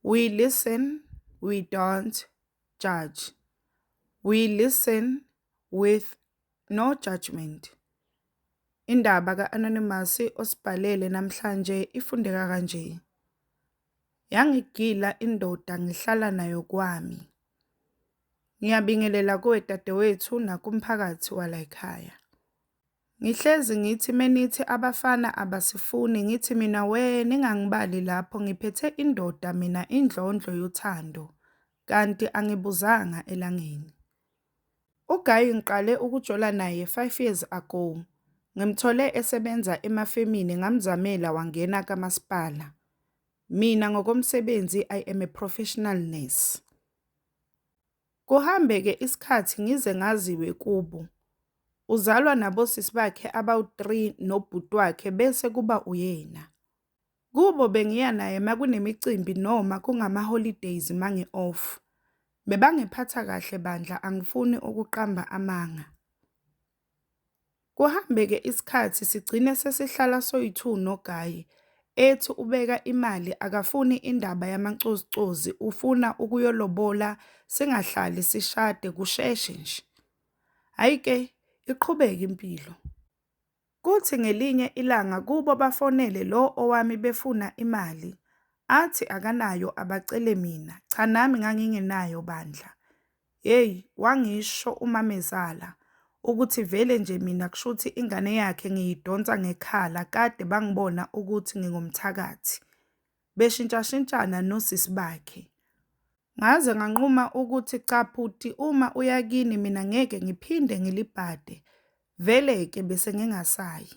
We listen, we don't judge. We listen with no judgement. Indaba ka-Anonymous osibhalele namhlanje ifundeka kanje. Yangigila indoda ngihlala nayo kwami. Ngiyabingelela kuwe dadewethu nakumphakathi walayikhaya. Ngihlezi ngithi menithi abafana abasifuni ngithi mina wee ningangibali lapho ngiphethe indoda mina indlondlo yothando kanti angibuzanga elangeni. Ugayi ngiqale ukujola naye 5 years ago. Ngimthole esebenza emafemini ngamzamela wangena kamasipala. Mina ngokomsebenzi I am a professional nurse. Kuhambe-ke isikhathi ngize ngaziwe kubo. Uzalwa nabosisi bakhe abawu-three nobhuti wakhe bese kuba uyena. Kubo bengiya naye makunemicimbi noma kungama-holidays mangi-off. Bebangiphatha kahle bandla angifuni ukuqamba amanga. Kuhambeke isikhathi sigcine sesihlala soyi-two noGaye, ethi ubeka imali akafuni indaba yamacozucozi ufuna ukuyolobola singahlali sishade kusheshe nje. Hhayi-ke iqhubeke impilo. Kuthi ngelinye ilanga kubo bafonele lo owami befuna imali, athi akanayo abacele mina, cha nami ngangingenayo bandla. Yeyi wangisho umamezala ukuthi vele nje mina kushuthi ingane yakhe ngiyidonsa ngekhala kade bangibona ukuthi ngingumthakathi. Beshintshashintshana nosisi bakhe. Ngaze nganquma ukuthi cha bhuti uma uya kini mina ngeke ngiphinde ngilibhade. Vele-ke bese ngingasayi.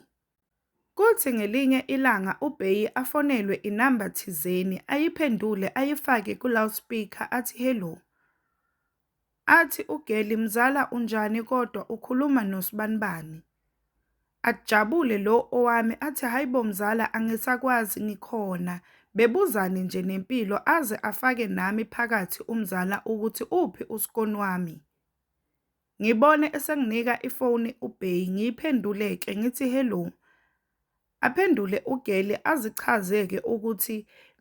Kuthi ngelinye ilanga uBhei afonelwe inamba thizeni ayiphendule ayifake ku loud speaker athi hello. Athi uGeli mzala unjani kodwa ukhuluma no sbanibani. Ajabule lo owami athi haibo mzala angisakwazi ngikhona bebuzane nje nempilo aze afake nami phakathi umzala ukuthi uphi uskon wami. Ngibone esenginika ifoni uBay ngiyiphendule-ke ngithi hello. Aphendule uGirl azichaze-ke ukuthi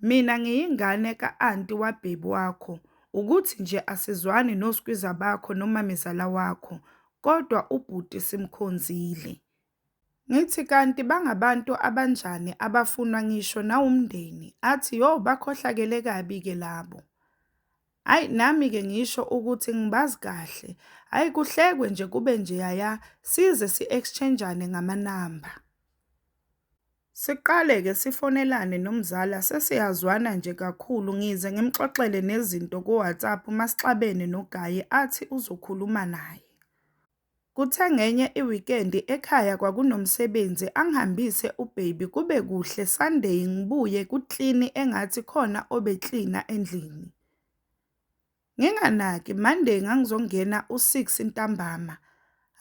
mina ngiyingane ka-anti wababy wakho, ukuthi nje asizwani noskwiza bakho nomamezala wakho, kodwa ubhuti simkhonzile. Ngithi kanti bangabantu abanjani abafunwa ngisho nawumndeni athi yo bakhohlakele kabi ke labo. Ay nami ke ngisho ukuthi ngibazi kahle. Ay kuhlekwe nje kube nje yaya size si exchangeane ngama number. Siqale ke sifonelane nomzala sesiyazwana nje kakhulu ngize ngimxoxele nezinto ku WhatsApp masixabene noGaye athi uzokhuluma naye. Kuthe ngenye iwikendi ekhaya kwakunomsebenzi angihambise ubaby kube kuhle Sunday ngibuye ku clean engathi khona obe cleaner endlini. Nginganaki Monday ngangizongena u six ntambama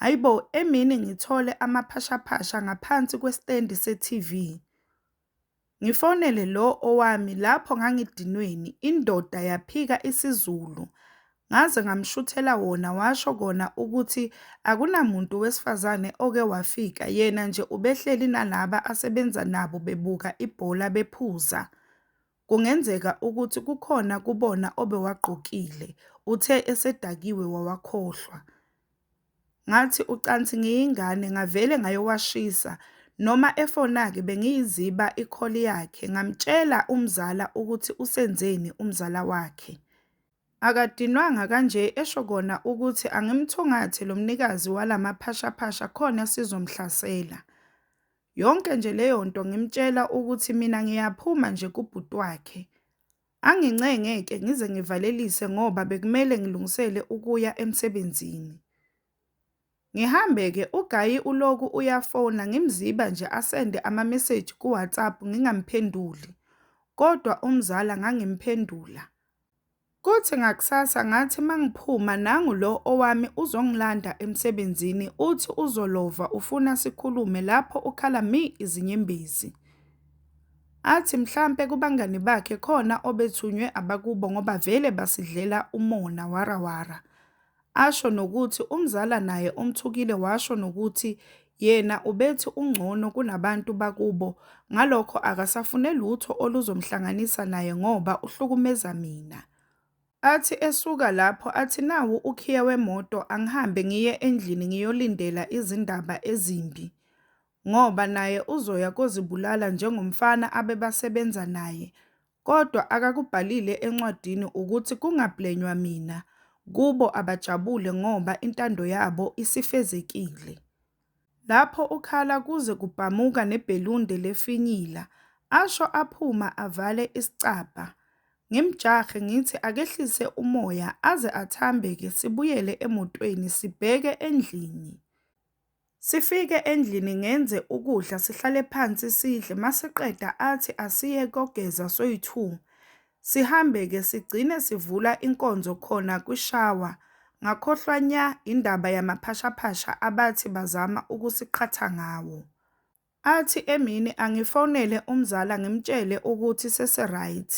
haibo emini ngithole amaphashaphasha ngaphansi kwe stand se TV. Ngifonele lo owami lapho ngangidinweni indoda yaphika isiZulu ngaze ngamshuthela wona washo kona ukuthi akunamuntu wesifazane oke wafika yena nje ubehleli nalaba asebenza nabo bebuka ibhola bephuza. Kungenzeka ukuthi kukhona kubona obewagqokile, uthe esedakiwe wawakhohlwa. Ngathi ucansi ngiyingane ngavele ngayowashisa noma efona-ke bengiyiziba ikholi yakhe ngamtshela umzala ukuthi usenzeni umzala wakhe. Akadinwanga kanje esho kona ukuthi angimthungathe lo mnikazi wala maphashaphasha khona sizomhlasela. Yonke nje leyo nto ngimtshela ukuthi mina ngiyaphuma nje kubhuti wakhe. Angincenge-ke ngize ngivalelise ngoba bekumele ngilungisele ukuya emsebenzini. Ngihambe-ke uGayi uloku uyafona ngimziba nje asende amameseji kuWhatsApp ngingamphenduli, kodwa umzala ngangimphendula. Kuthi ngakusasa ngathi mangiphuma nangu lo owami uzongilanda emsebenzini uthi uzolova ufuna sikhulume lapho ukhala mi izinyembezi. Athi mhlampe kubangani bakhe khona obethunywe abakubo ngoba vele basidlela umona warawara. Asho nokuthi umzala naye umthukile washo nokuthi yena ubethi ungcono kunabantu bakubo ngalokho akasafune lutho oluzomhlanganisa naye ngoba uhlukumeza mina. Athi esuka lapho athi nawu ukhiye wemoto angihambe ngiye endlini ngiyolindela izindaba ezimbi ngoba naye uzoya kozibulala njengomfana abebasebenza naye kodwa akakubhalile encwadini ukuthi kungablenywa mina kubo abajabule ngoba intando yabo isifezekile. Lapho ukhala kuze kubhamuka nebhelunde lefinyila asho aphuma avale isicabha. Ngimjahe ngithi akehlise umoya aze athambeke sibuyele emotweni sibheke endlini. Sifike endlini ngenze ukudla sihlale phansi sidle masiqeda athi asiye kogeza soyi two sihambe ke sigcine sivula inkonzo khona kwishawa ngakhohlwa nya indaba yamaphashaphasha abathi bazama ukusiqhatha ngawo. Athi emini angifonele umzala ngimtshele ukuthi sesi right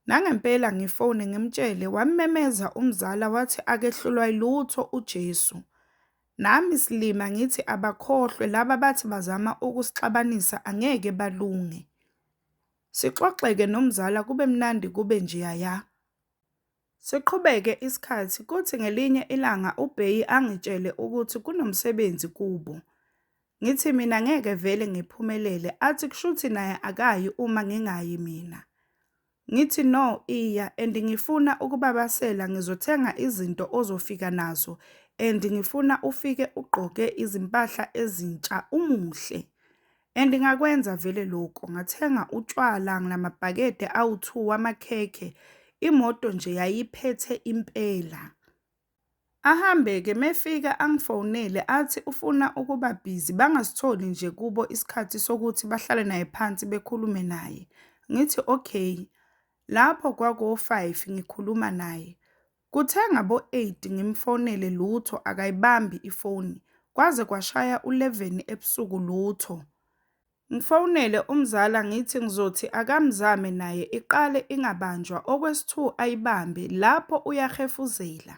Nangempela ngifone ngimtshele wammemeza umzala wathi akehlulwa ilutho uJesu. Nami silima ngithi abakhohlwe laba bathi bazama ukusixabanisa angeke balunge. Sixoxeke nomzala kube mnandi kube njeyaya. Siqhubeke isikhathi kuthi ngelinye ilanga uBheyi angitshele ukuthi kunomsebenzi kubo. Ngithi mina ngeke vele ngiphumelele athi kushuthi naye akayi uma ngingayi mina. Ngithi no iya and ngifuna ukubabasela ngizothenga izinto ozofika nazo and ngifuna ufike ugqoke izimpahla ezintsha umuhle. And ngakwenza vele lokho ngathenga utshwala nginamabhakede awu-2 wamakhekhe imoto nje yayiphethe impela. Ahambe-ke mefika angifonele athi ufuna ukuba busy bangasitholi nje kubo isikhathi sokuthi bahlale naye phansi bekhulume naye. Ngithi okay. Lapho kwako-5 ngikhuluma naye. Kuthe ngabo-8 ngimfonele lutho akayibambi ifoni. Kwaze kwashaya u-11 ebusuku lutho. Ngifonele umzala ngithi ngizothi akamzame naye iqale ingabanjwa okwesi-two ayibambe lapho uyahefuzela.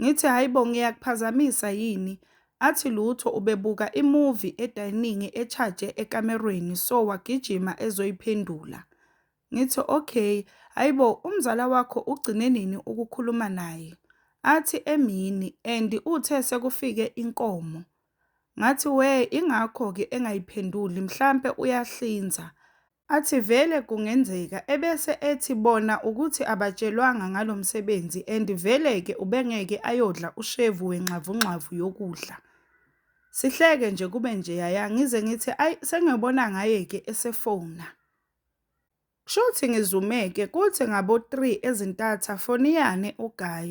Ngithi hayibo ngiyakuphazamisa yini? Athi lutho ubebuka imuvi edayiningi echaje ekamerweni so wagijima ezoyiphendula. Ngithi, Okay, hayibo umzala wakho ugcine nini ukukhuluma naye? Athi, Emini, and uthe sekufike inkomo. Ngathi, Wee, ingakho-ke engayiphenduli, mhlampe uyahlinza. Athi, Vele kungenzeka. Ebese ethi, Bona ukuthi abatshelwanga ngalo msebenzi and vele-ke ubengeke ayodla ushevu wengxavungxavu yokudla. Sihleke nje kube njeyaya ngize ngithi, Ayi, sengiyobona ngaye-ke esefona. Kshuthi ngizumeke kuthi ngabo three ezintatha foniyane uGuy.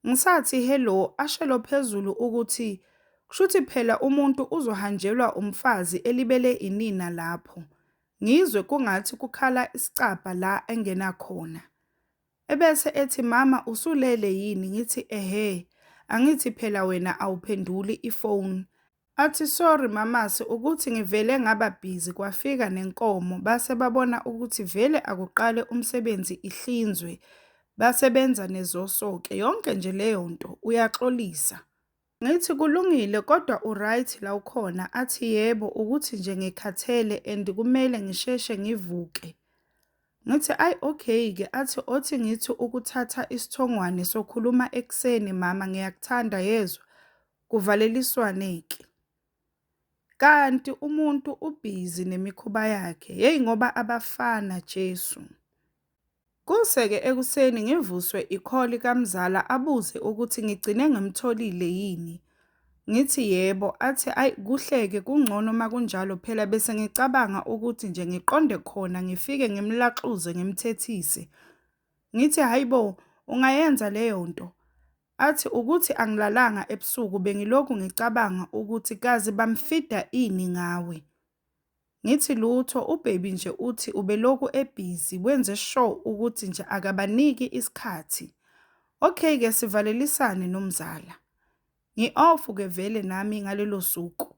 Ngisathi hello ashelo phezulu ukuthi kshuthi phela umuntu uzohanjelwa umfazi elibele inina lapho. Ngizwe kungathi kukhala isicabha la engena khona. Ebese ethi mama usulele yini ngithi ehhe angithi phela wena awuphenduli ifoni. Athi sorry mamase ukuthi ngivele ngaba busy kwafika nenkomo base babona ukuthi vele akuqale umsebenzi ihlinzwe base benza nezosoke yonke nje leyo nto uyaxolisa. Ngithi kulungile kodwa uryt la ukhona athi yebo ukuthi nje ngikhathele and kumele ngisheshe ngivuke. Ngithi ayi okay ke athi othi ngithi ukuthatha isithongwane sokhuluma ekuseni mama ngiyakuthanda yezwa. Kuvaleliswane ke. Kanti umuntu ubhizi nemikhuba yakhe yeyi ngoba abafana Jesu. Kuse ke ekuseni ngivuswe ikholi kamzala abuze ukuthi ngigcine ngimtholile yini. Ngithi yebo athi ay kuhleke kungcono makunjalo phela bese ngicabanga ukuthi nje ngiqonde khona ngifike ngimlaxuze ngimthethise. Ngithi hayibo ungayenza leyo nto. Athi ukuthi angilalanga ebusuku bengilokhu ngicabanga ukuthi kazi bamfida ini ngawe. Ngithi lutho ubaby nje uthi ubelokhu ebhizi wenze sure ukuthi nje akabaniki isikhathi. Okay ke sivalelisane nomzala. Ngi-off ke vele nami ngalelo suku.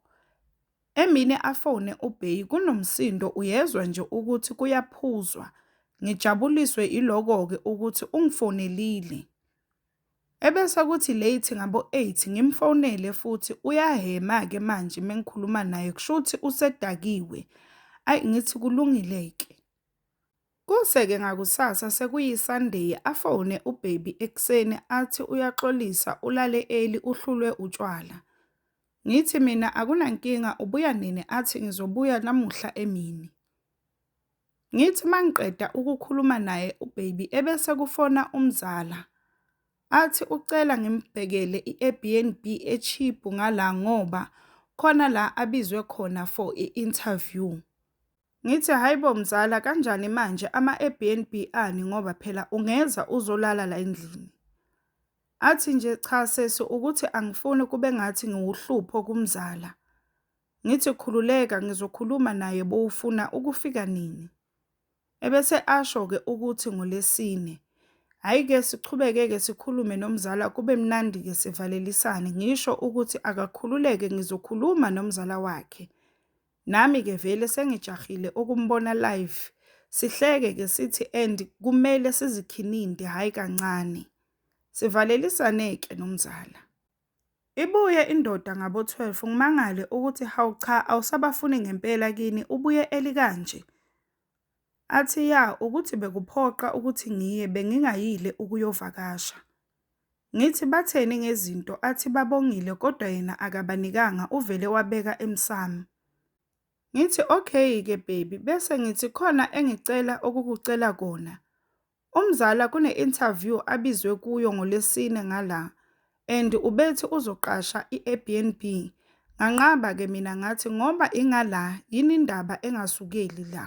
Emini afone uBay kunomsindo uyezwa nje ukuthi kuyaphuzwa. Ngijabuliswe iloko-ke ukuthi ungifonelile. Ebese kuthi late ngabo 8 ngimfonele futhi uyahhema ke manje mengikhuluma naye kushuthi usedakiwe ayi ngithi kulungile ke. Kuse ke ngakusasa sekuyi Sunday afone ubaby ekseni athi uyaxolisa ulale early uhlulwe utshwala. Ngithi mina akunankinga ubuya nini athi ngizobuya namuhla emini. Ngithi uma ngiqeda ukukhuluma naye ubaby ebese kufona umzala athi ucela ngimbhekele i-Airbnb e-cheap ngala ngoba khona la abizwe khona for i-interview. Ngithi hhayi bo mzala kanjani manje ama-Airbnb ani ngoba phela ungeza uzolala la endlini. Athi nje cha sesi ukuthi angifuni kube ngathi ngiwuhlupho kumzala. Ngithi khululeka ngizokhuluma naye bowufuna ukufika nini? Ebese asho-ke ukuthi ngolesine. Hhayi-ke siqhubeke-ke sikhulume nomzala kube mnandi-ke sivalelisane ngisho ukuthi akakhululeke ngizokhuluma nomzala wakhe. Nami-ke vele sengijahile ukumbona live. Sihleke-ke sithi and kumele sizikhininte hhayi kancane. Sivalelisane-ke nomzala. Ibuye indoda ngabo 12 ngimangale ukuthi hawu cha awusabafuni ngempela kini ubuye early kanje. Athi ya ukuthi bekuphoqa ukuthi ngiye bengingayile ukuyovakasha. Ngithi batheni ngezinto athi babongile kodwa yena akabanikanga uvele wabeka emsamo. Ngithi okay ke baby bese ngithi khona engicela ukukucela kona. Umzala kune-interview abizwe kuyo ngoLwesine ngala and ubethi uzoqasha i-Airbnb. Nganqaba-ke mina ngathi ngoba ingala yini indaba engasukeli la.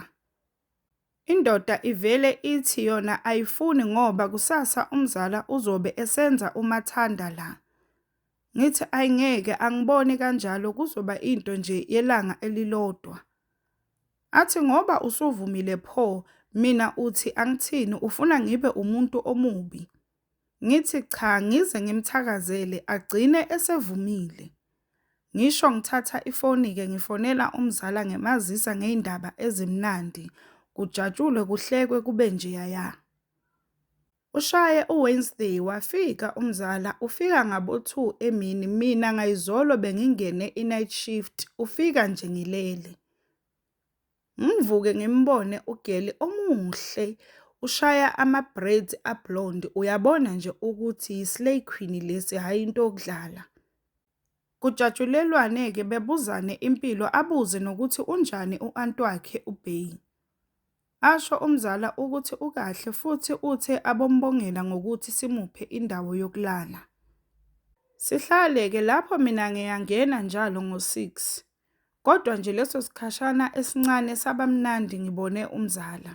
Indoda ivele ithi yona ayifuni ngoba kusasa umzala uzobe esenza umathanda la. Ngithi ayi ngeke angiboni kanjalo kuzoba into nje yelanga elilodwa. Athi ngoba usuvumile pho mina uthi angithini ufuna ngibe umuntu omubi. Ngithi cha ngize ngimthakazele agcine esevumile. Ngisho ngithatha ifoni ke ngifonela umzala ngimazisa ngeyindaba ezimnandi kujatshulwe kuhlekwe kube njeyaya. Ushaye uWednesday wafika umzala ufika ngabo 2 emini mina ngayizolo bengingene inight shift ufika nje ngilele. Ngivuke ngimbone ugeli omuhle ushaya ama-braids a-blonde uyabona nje ukuthi yi-slay queen lesi hhayi into yokudlala. Kujatshulelwane ke bebuzane impilo abuze nokuthi unjani u aunt wakhe u Bay. Asho umzala ukuthi ukahle futhi uthe abombongela ngokuthi simuphe indawo yokulala. Sihlale ke lapho mina ngiyangena njalo ngo six kodwa nje leso sikhashana esincane sabamnandi ngibone umzala.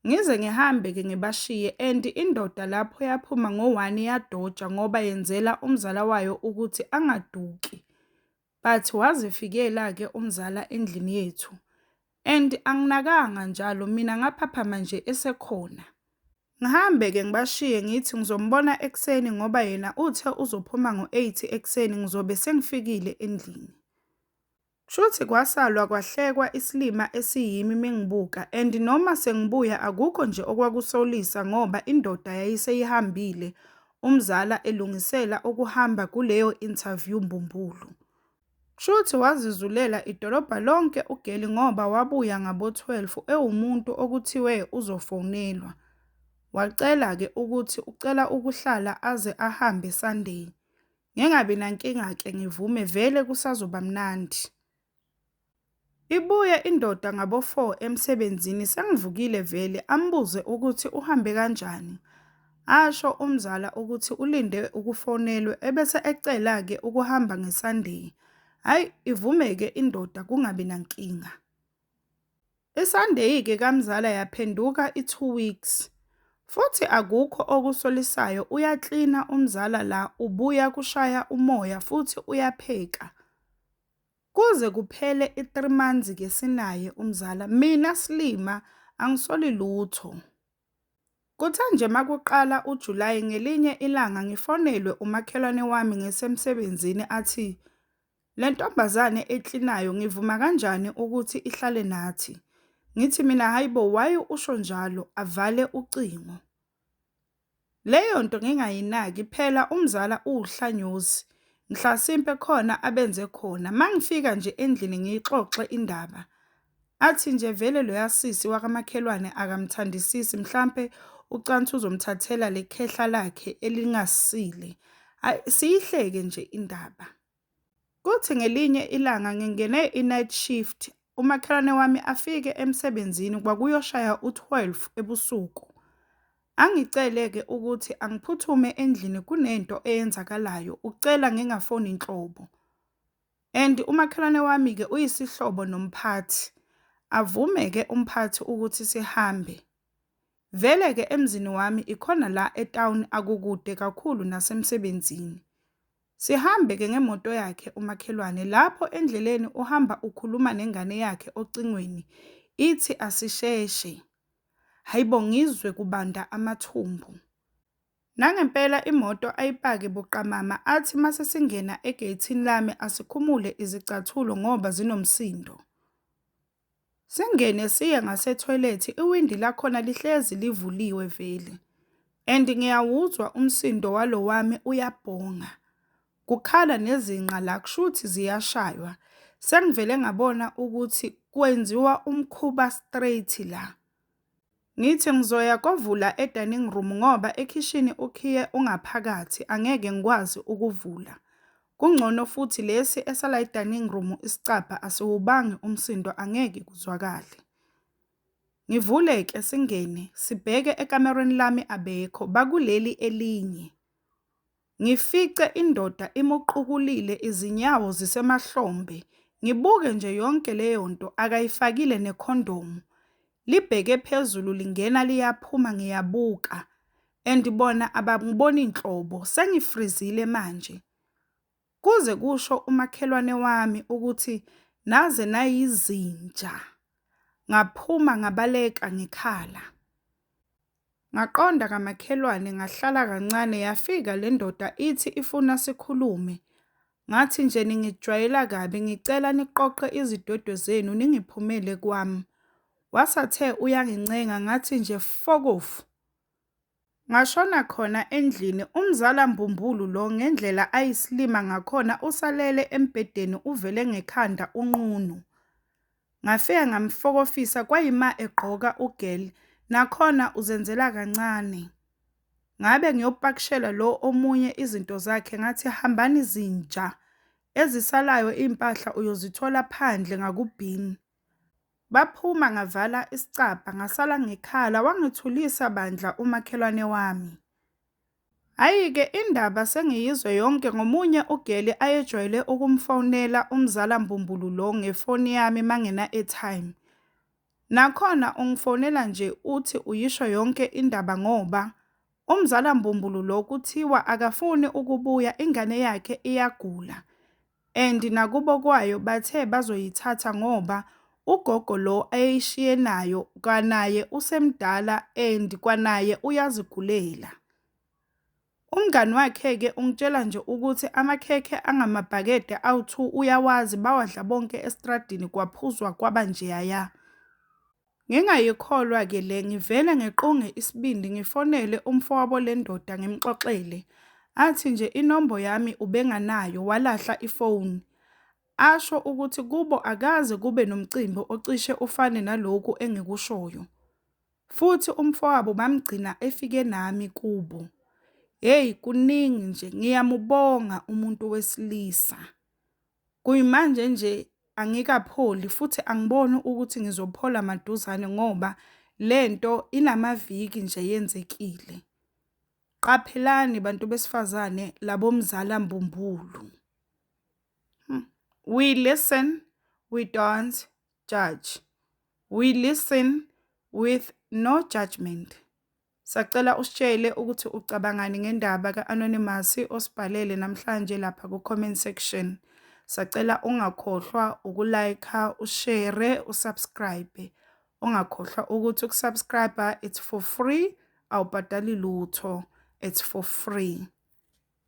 Ngize ngihambe ke ngibashiye and indoda lapho yaphuma ngo one yadoja ngoba yenzela umzala wayo ukuthi angaduki but wazifikela ke umzala endlini yethu and anginakanga njalo mina ngaphaphama nje esekhona. Ngihambe ke ngibashiye ngithi ngizombona ekuseni ngoba yena uthe uzophuma ngo eight ekuseni ngizobe sengifikile endlini. Kshuthi kwasalwa kwahlekwa islima esiyimi mengibuka and noma sengibuya akukho nje okwakusolisa ngoba indoda yayiseyihambile umzala elungisela ukuhamba kuleyo interview mbumbulu. Kshuthi wazizulela idolobha lonke ugeli ngoba wabuya ngabo 12 ewumuntu okuthiwe uzofonelwa wacela ke ukuthi ucela ukuhlala aze ahambe Sunday Ngengabi nankinga-ke ngivume vele kusazoba mnandi. Ibuye indoda ngabo-four emsebenzini sengivukile vele ambuze ukuthi uhambe kanjani. Asho umzala ukuthi ulinde ukufonelwe ebese ecela-ke ukuhamba ngeSunday. Hhayi ivume-ke indoda kungabi nankinga. Isandeyike kamzala yaphenduka i two weeks futhi akukho okusolisayo uyaklina umzala la ubuya kushaya umoya futhi uyapheka. Kuze kuphele i three months-ke sinaye umzala mina slima angisoli lutho. Kuthe nje makuqala uJulayi ngelinye ilanga ngifonelwe umakhelwane wami ngisemsebenzini athi, le ntombazane eklinayo ngivuma kanjani ukuthi ihlale nathi? Ngithi mina, hhayi bo, why usho njalo? Avale ucingo. Leyo nto ngingayinaki phela umzala uwuhlanyosi mhla simpe khona abenze khona mangifika nje endlini ngiyixoxe indaba athi nje vele loyasisi wakamakhelwane akamthandisisi mhlampe ucansi uzomthathela lekhehla lakhe elingasile siyihleke nje indaba Kuthi ngelinye ilanga ngingene i-night shift, umakhelwane wami afike emsebenzini kwakuyoshaya u-twelve ebusuku. Angicele-ke ukuthi angiphuthume endlini kunento eyenzakalayo, ucela ngingafoni nhlobo and umakhelwane wami-ke uyisihlobo nomphathi. Avume-ke umphathi ukuthi sihambe, Vele ke emzini wami ikhona la etown akukude kakhulu nasemsebenzini. Sihambe ke ngemoto yakhe umakhelwane lapho endleleni uhamba ukhuluma nengane yakhe ocingweni ithi asisheshe. Hayibo ngizwe kubanda amathumbu. Nangempela imoto ayipake buqamama athi mase singena egeyithini lami asikhumule izicathulo ngoba zinomsindo. Singene siye ngasetoilet iwindi lakhona lihlezi livuliwe vele and ngiyawuzwa umsindo walo wami uyabhonga. Kukhala nezinqa la kushuthi ziyashaywa. Sengivele ngabona ukuthi kwenziwa umkhuba straight la. Ngithi ngizoya kovula e-dining room ngoba ekhishini ukhiye ungaphakathi angeke ngikwazi ukuvula. Kungcono futhi lesi esala e-dining room isicabha asiwubangi umsindo angeke kuzwakale. Ngivule-ke singene sibheke ekamerweni lami abekho bakuleli elinye. Ngifice indoda imuqukulile izinyawo zisemahlombe ngibuke nje yonke leyonto akayifakile nekhondomu libheke phezulu lingena liyaphuma ngiyabuka and bona abangiboni nhlobo sengifrizile manje kuze kusho umakhelwane wami ukuthi naze nayizinja ngaphuma ngabaleka ngikhala Ngaqonda kamakhelwane ngahlala kancane yafika le ndoda ithi ifuna sikhulume. Ngathi nje ningijwayela kabi ngicela niqoqe izidwedwe zenu ningiphumele kwami. Wasathe uyangincenga ngathi nje fokofu. Ngashona khona endlini umzala mbumbulu lo ngendlela ayisilima ngakhona usalele embhedeni uvele ngekhanda unqunu. Ngafika ngamfokofisa kwayima egqoka u girl nakhona uzenzela kancane. Ngabe ngiyopakishela lo omunye izinto zakhe ngathi hambani zinja. Ezisalayo impahla uyozithola phandle ngakubin. Baphuma ngavala isicabha ngasala ngikhala wangithulisa bandla umakhelwane wami. Hhayi-ke indaba sengiyizwe yonke ngomunye ugeli ayejwayele ukumfonela umzala mbumbulu lo ngefoni yami mangina-airtime. Nakhona ungifonela nje uthi uyisho yonke indaba ngoba umzala mbumbulu lo kuthiwa akafuni ukubuya ingane yakhe iyagula. and nakubo kwayo bathe bazoyithatha ngoba ugogo lo ayeyishiye nayo kwanaye usemdala and kwanaye uyazigulela. Umngani wakhe-ke ungitshela nje ukuthi amakhekhe angamabhakede awu-two uyawazi, bawadla bonke estradini kwaphuzwa kwaba njeyaya. Ngingayikholwa ke le ngivele ngiqunge isibindi ngifonele umfowabo lendoda ngimxoxele athi nje inombo yami ubenganayo walahla ifoni asho ukuthi kubo akaze kube nomcimbi ocishe ufane naloku engikushoyo futhi umfowabo bamgcina efike nami kubo hey kuningi nje ngiyamubonga umuntu wesilisa Kuyimanje nje angikapholi futhi angiboni ukuthi ngizophola maduzane ngoba le nto inamaviki nje yenzekile. Qaphelani bantu besifazane labomzala mbumbulu. Hmm. We listen, we don't judge. We listen with no judgment. Sacela usitshele ukuthi ucabangani ngendaba ka-Anonymous osibhalele namhlanje lapha ku-comment section. Sacela ungakhohlwa uku-like, ushare, usubscribe. Ungakhohlwa ukuthi ukusubscribe it's for free, awubhadali lutho. It's for free.